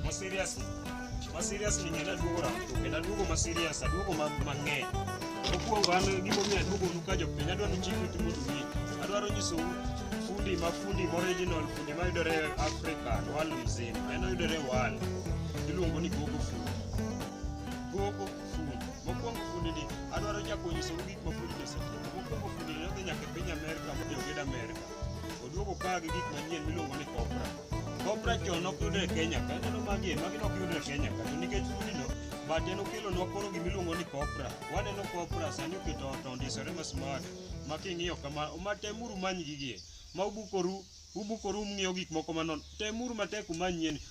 Ma serious. Ma serious ni ng'ena duogo rango. Kendo aduogo ma serious, aduogo ma mang'eny. Mokwongo an gima omiyo aduogo nu ka jopiny, adwa ni chik uti mondo ung'e. Adwaro nyisou fundi ma fundi ma original, fundi ma yudore e Africa, world mzima. En oyudore e world. Iluongo ni gogo fundi. Gogo fundi. Mokwongo fundi ni, adwaro chako nyisou gik ma fundi osetimo. Mokwongo fundi ni nodhi nyaka e piny Amerka, modhi oged Amerka. Oduogo ka gi gik manyien miluongo ni kopra. Kopra chon ok yudre e Kenya ka, aneno magi e, magi ne ok yudre e Kenya ka. To nikech kudino, but en okelonwa koro gima iluongo ni kopra. Waneno kopra sani oketo ot ondisore ma smart ma king'iyo kama, ma temuru umany gigi e. Ma ubukoru, ubukoru ung'iyo gik moko manon. Temuru matek umany yien.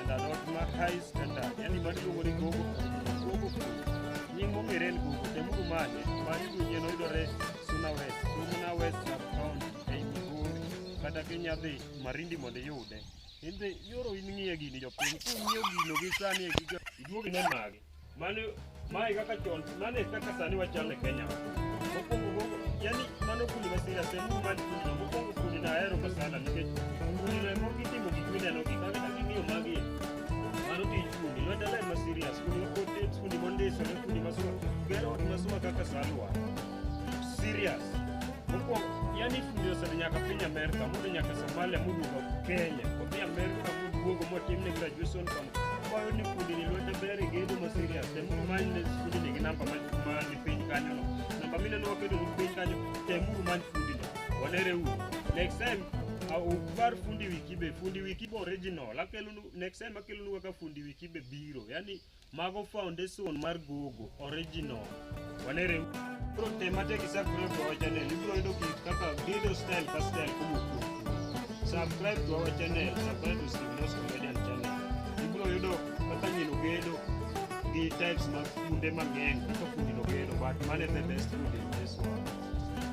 and are not martyrs and are yani mani luongo ni gogo gogo nying mong'ere en gogo temuru mane mani dunyien oyudore suna west suna west sub county ei migori kata kinya dhi marindi mondo iyude in be yoro in ng'iye gini jopiny kung'iyo gino gi sani e giga iduogi ne magi Mano mae kaka chon, mano e kaka sani wachal e Kenya. Mokwongo mokwongo, yani mano kundi ma serious en kundi man kundi. Mokwongo kundi na ahero ka sana nikech kundi na mor kitimo gik mineno gi kaka kaka ing'iyo magi. Mano tij kundi, lweta ler ma serious, kundi ma kotet, kundi mondisore, kundi ma suma, gero ot ma suma kaka salwa. Serious. Moko yani fundi osedhi nyaka piny Amerika, modhi nyaka Somalia, moduogo Kenya, odhi Amerika moduogo motimne graduation from kwayo ni fundi ni lwete ber gedo ma serious. Tem many ne fundi ni gi namba ma ma ni piny kanyo no. Namba mine no wakedo ni piny kanyo, tem uru many fundi no. Wanere uru. Next time ukbar fundi wikibe fundi wikibe original akelunu next time akelunu kaka fundi wikibe biro yani Mago foundation mar gogo original. Wanere bro te mate ki subscribe to our channel. Ibro yudo ki kaka video style ka style kumu ku. Subscribe to our channel. Subscribe to Steve Nos Comedian channel. Ibro yudo kaka nyino gedo gi types mag kunde mang'eny kaka kundi no gedo but mane the best food in this world.